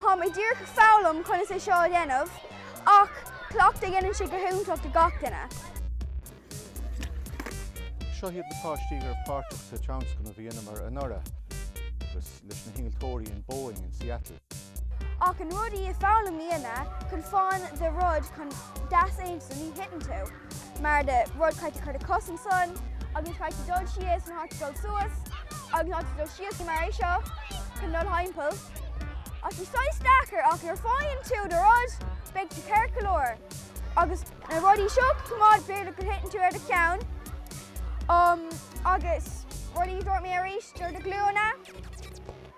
Tá mé díreach ag foghlaim conas é seo a dhéanamh ach cleachtadh, déanann sé go hiontach ó gach duine. Seo hiad na páistí a bhí páirteach sa tionscnamh a dheineamar anuraidh agus leis na hinnealtóirí in Boeing in Seattle. Ach an rud is ea foghlaim a dhéanamh chun fáil do rud chun deas agus ansan ní thiteann tú. mar do rud caithfidh tú cur do chos ansan, agus caithfidh tú dul síos nó caithfidh tú dul suas, agus caithfidh tú dul síos go mar é seo, chun dul thimpeall. Tá sé saghas deacair, ach nuair fáigheann tú do rud, beidh tú ceart go leor. Agus na rudaí seo coimeád b'fhéidir go thiteann tú ar do cheann. Agus rudaí a dúirt mé arís, ar do ghlúine.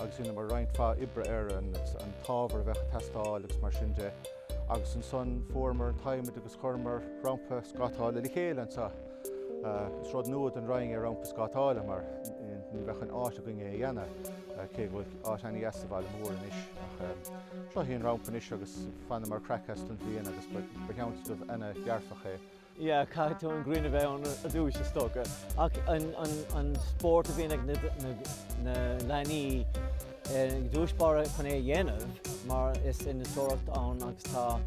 agus rinneamar roinnt mhaith oibre air, an t-ábhar a bheadh ag teastáil agus mar sin de agus ansan fuaireamar an t-adhmaid agus chuireamar rampa scátála le chéile anseo. Is rud nua don Rinn é rampa scátála mar ní bheadh an áit againn é a dhéanamh cé go bhfuil áit an-deas sa Bhaile Mór anois ach sin é an rampa anois agus bhaineamar craic as an bpleanáil agus ba thionscnamh ana-dhearfach é. Yeah, caithfidh an ghrian a bheith ann ar dtús, is dócha. Ach an spórt a bhíonn ag na leanaí thar barr chun é a dhéanamh mar is innealtóireacht ann agus tá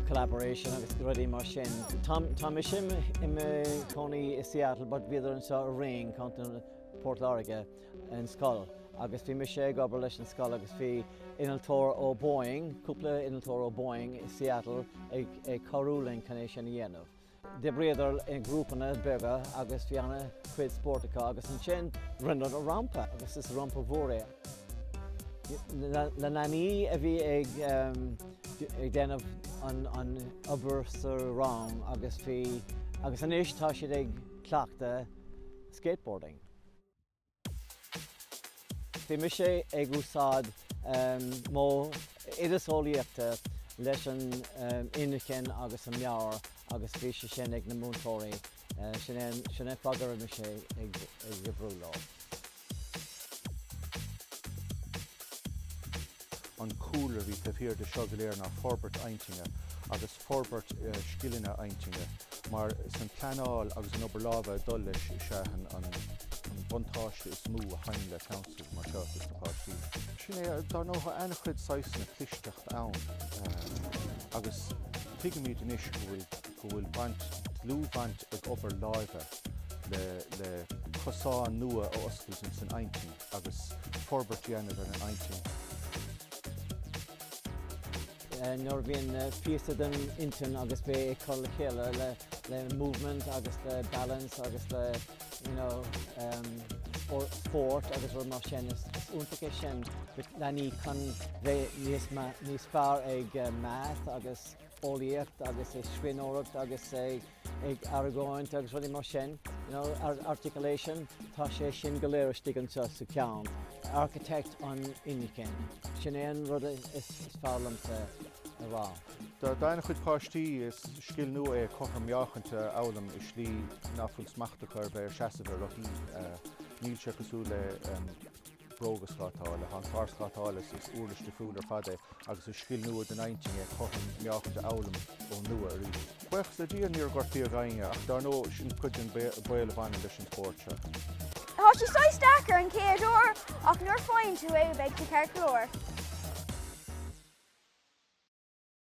collaboration agus rudaí mar sin. Tá mise i mo chónaí i Seattle but bhíodar anseo i Rinn, Co. Port Láirge. an scoil agus bhí mise ag obair leis an scoil agus bhí innealtóir ó Boeing, cúpla innealtóir ó Boeing i Seattle ag, ag cabhrú linn chun é sin a dhéanamh. D'oibríodar i ngrúpanna beaga agus bhí ana chuid spóirt acu agus ansin rinneadar rampa agus is rampa mhór é. Leanaí a bhí ag, ag déanamh an, an obair sa rang agus bhí, agus anois tá siad ag cleachtadh skateboarding. Bhí mise ag úsáid modheolaíochta leis an inchinn agus an meabhair agus bhí sé sin ag na múinteoirí. Sin é, sin é fad a raibh mise ag cabhrú leo. An cúlra a bhí taobh thiar de seo go léir ná forbairt intinne agus forbairt scileanna intinne, mar is an pleanáil agus an obair láimhe ag dul leis is ea an buntáiste is mó a thagann le tionscnamh mar seo dos na páistí. Is é sin, ar ndóigh, an-chuid saghsanna clisteacht ann agus tuigimid anois go bhfuil baint, dlúthbhaint ag obair láimhe le cosán nua a oscailt insan intinn. agus forbairt dhéanamh ar an intinn. nuair a bhíonn píosa den intinn agus bheith ag cur le chéile le movement agus le balance agus le you know spórt agus rud mar sin is iontach é sin le leanaí chun bheith níos ma- níos fearr ag maths agus eolaíocht agus ag scríbhneoireacht agus ag ag argóint agus rudaí mar sin, you know, ar articulation, tá sé sin go léir istigh anseo sa cheann. Architect an inchinn. Sin é an rud is fearr liomsa a rá. Do do chuid páistí, is scil nua é cothrom meáchaint a fhoghlaim i slí nach bhfuil smacht acu ar bheith ag seasamh ar rothaí. Níl sé cosúil le. bróga scátála. Tá an clár scátála, is uirlis difriúil ar fad é agus is scil nua don intinn é cothrom meáchaint a fhoghlaim ón nua arís. Buíochas le Dia níor gortaíodh éinne ach dár ndóigh sin cuid den baol a bhaineann leis an spórt seo. Tá sé saghas deacair an chéad uair ach nuair a faigheann tú é beidh tú ceart go leor.